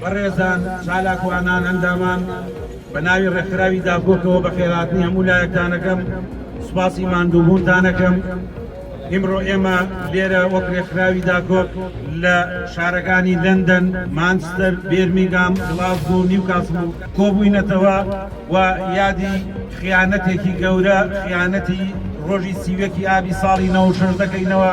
بەڕێزان چالاکوانان ئەندامان بە ناوی ڕێکخراوی داکۆکەوە بە خێراتنی هەموو لایەکتانەکەم سوپاسی ماندووبوونتانەکەم ئیمڕۆ ئێمە لێرە وەک ڕێکخراوی داکۆک لە شارەکانی لندن مانچستەر بێرمیگام گڵاز و نیوکاسم و کۆبووینەتەوە و یادی خیانەتێکی گەورە خیانەتی ڕۆژی سیوەکی ئابی ساڵی نەوە شەش دەکەینەوە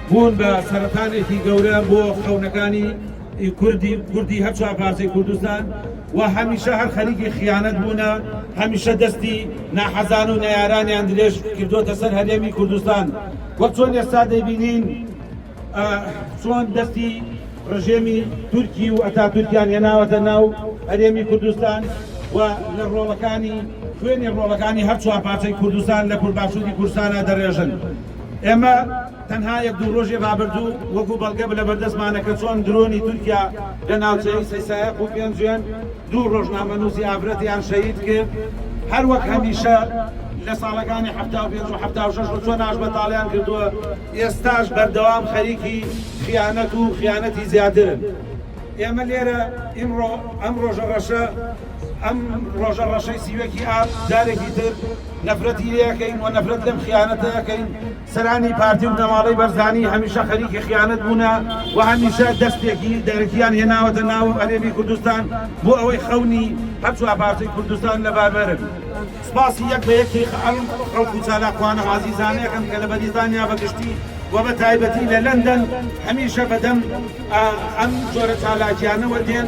بوون بە سەرەتانێکی گەورە بۆ خەونەکانی کوردی کوردی هەر چوار پارچەی کوردستان و هەمیشە هەر خەریکی خیانەت بوونە هەمیشە دەستی ناحەزان و نەیارانیان درێژ کردوتە سەر هەرێمی کوردستان وەک چۆن ئێستا دەبینین چۆن دەستی ڕژێمی تورکی و ئەتا تورکیان هێناوەتە ناو هەرێمی کوردستان و لە ڕۆڵەکانی خوێنی ڕۆڵەکانی هەر چوار پارچەی کوردستان لە کوردباشووری کوردستانە دەڕێژن ئێمە تەنها یەک دوو ڕۆژی ڕابردوو وەکو بەڵگە بلە بەردەستمانە کە چۆن درۆنی تورکیا لە ناوچەی سەیسایەق و پێنجوێن دوو ڕۆژنامەنووسی ئافرەتیان شەهید کرد هەر وەک هەمیشە لە ساڵەکانی حەفتا و پێنج و حەفتا و شەش و چۆن ئاش بەتاڵیان کردووە ئێستاش بەردەوام خەریکی خیانەت و خیانەتی زیاترن ئێمە لێرە ئیمڕۆ ئەم ڕۆژە ڕەشە ئەم ڕۆژە ڕەشەی سیوەکی ئاپ جارێکی تر نەفرەتی لێ ئەکەین و نەفرەت لەم خیانەتە ئەکەین، سەرانی پارتی و بنەماڵەی بەرزانی هەمیشە خەریکی خیانەت بوونە و هەمیشە دەستێکی دەرەکییان هێناوەتە ناو هەرێمی کوردستان بۆ ئەوەی خەونی هەر چوار پارچەی کوردستان لەبار بەرن. سپاسی یەک بە یەکی ئەم خەڵک و چالاکوانە و ئازیزانە ئەکەم کە لە بەریتانیا بە گشتی و بە تایبەتی لە لەندەن هەمیشە بە دەم ئەم جۆرە چالاکییانەوە دێن،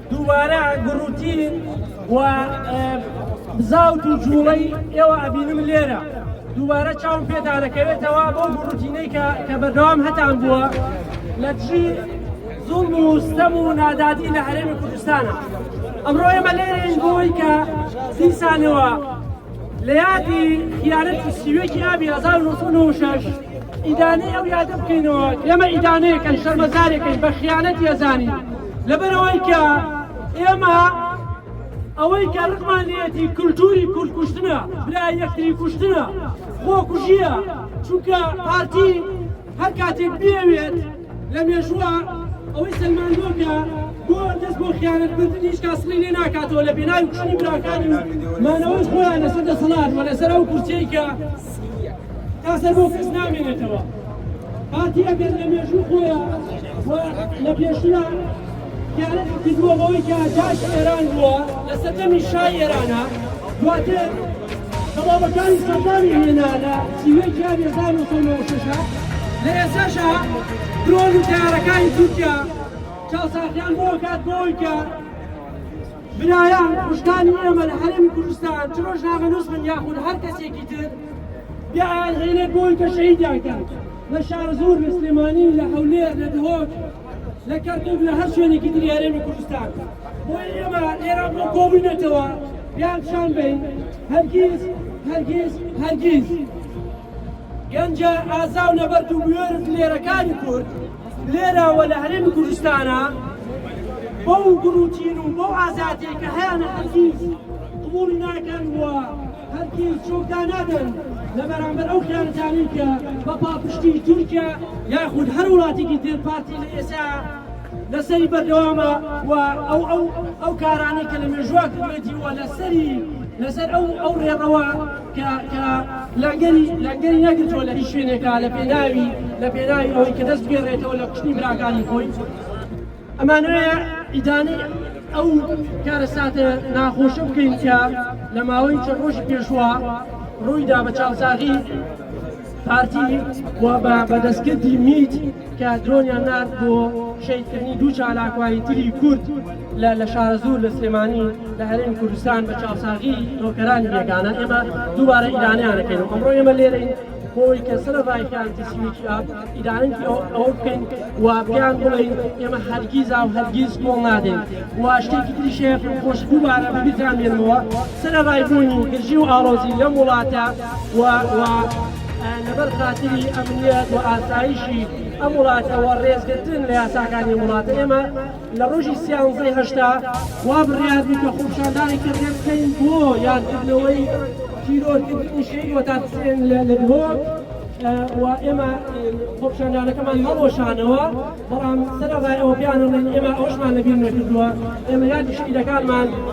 دووبارە گوڕ و تین و بزاوت و جووڵەی ئێوە ئەبینم لێرە دووبارە چاوم پێدا دەکەوێتەوە بۆ گوڕ و تینەی کە کە بەردەوام هەتان بووە لە دژی زوڵم و ستەم و نادادی لە هەرێمی کوردستانە ئەمڕۆ ئێمە لێرەین بۆی کە دیسانەوە لە یادی خیانەتی سیوێکی ئابی 1996 ئیدانەی ئەو یادە بکەینەوە ئێمە ئیدانەیەکەن شەرمەزارێکەین بە خیانەتی ئەزانین لەبەرئەوەی کە ئێمە ئەوەی کە ڕقمان لێتی کللتوری کوردکوشتنە برا یەکتری کوشتنە خۆکوژیە چونکە پارتی هەر کاتێک بێوێت لە مێژووە ئەوەی سەلماندۆ کە بۆ دەست بۆ خیانەتکردن هیچ کاسڵی لێ ناکاتەوە لە پێناوی کوشتنی براکانی مانەوەی خۆیان لەسەر دەسەڵات و لەسەر ئەو کورسیەی کە تا سەر بۆ کەس نامێنێتەوە پارتی ئەگەر لە مێژوو خۆیە لە پێشنا دیارەتی کردووە بەوەی کە جاش ئێران بووە لە سەردەمی شای ئێرانە دواتر دەڵابەکانی سەردانی هێنا لە سیوەی جیان هزار و سەد و شەشە لە ئێساشا درۆن و تارەکانی تورکیا چاوساخیان بۆ کات بۆی کە برایان کوژرانی ئێمە لە هەرێمی کوردستان چ ڕۆژنامەنووس بن یاخود هەر کەسێکی تر بیان هێنێت بۆی کە شەهیدیان کرد لە شارزور لە سلێمانی لە هەولێر لە دهۆک لە کەرکک لە هەر شوێنێکی تری هەرێمی کوردستان بۆی ئێمە ئێرە بۆ کۆبینێتەوە بیان شان بین هەرگیز هەرگیز هەرگیز گەنجە ئازا و نەبەرد و بوێرز لێرەکانی کورد لێرە و لە هەرێمی کوردستانە بەو گروتین و بەو ئازادیە کە هەیانە هەرگیز قبوڵی ناکەن و هەرگیز چۆکدا نادەن لە بەرامبەر ئەو خیانەتانەی کە بە پاپشتی تورکیا یاخود هەر وڵاتێکی تر پارتی لە ئێسا لەسەری بەردەوامە و ئەو ئەو ئەو کارانەی کە لە مێژووا کردێتی وە لەسەری لەسەر ئەو ئەو ڕێڕەوە کە کە لەنگەری لەنگەری نەگرتووە لە هیچ شوێنێکا لە پێناوی لە پێناوی ئەوەی کە دەست بگێڕێتەوە لە کوشتنی براکانی خۆی ئەمانەیە ئیدانەی ئەو کارەساتە ناخۆشە بکەین کە لە ماوەی چە ڕۆژی پێشوە ڕوویدا بە چاوساغی پارتی و بە بەدەستکردی میت کە درۆنیان نارد بۆ شەیدکردنی دوو چالاکوانی تری کورد لە لە شارەزوور لە سلێمانی لە هەرێمی کوردستان بە چاوساغی نۆکەرانی بێگانە ئێمە دووبارە ئیدانیان دەکەین و ئەمڕۆ ئێمە لێرەین بۆی کە سەر ڕایکانتی سیویکی ئاپ ئیدانەی ئەوە بکەین و پێیان بڵین ئێمە هەرگیزا و هەرگیز کۆڵ نادەین و شتێکی تری شێف خۆش دووبارە بەبیتان بێنمەوە سەر ڕایبوونی گرژی و ئاڵۆزی لەم وڵاتە و لەبەر خاتری ئەمنیەت و ئاسایشی ئەم وڵاتەوە ڕێزگرتن لە یاساکانی وڵاتە ئێمە لە ڕۆژی سیانزەی هەشتا وا بڕیار بوو کە خۆپیشاندانێکی ڕێک بکەین بۆ یادکردنەوەی تیرۆرکردنی شەهید وەتات حسێن لە دهۆک و ئێمە خۆپیشاندانەکەمان هەڵوەشانەوە بەڵام سەرەڕای ئەوە بیانەڵێن ئێمە ئەوشمان لەبیر نەکردووە ئێمە یادی شەهیدەکانمان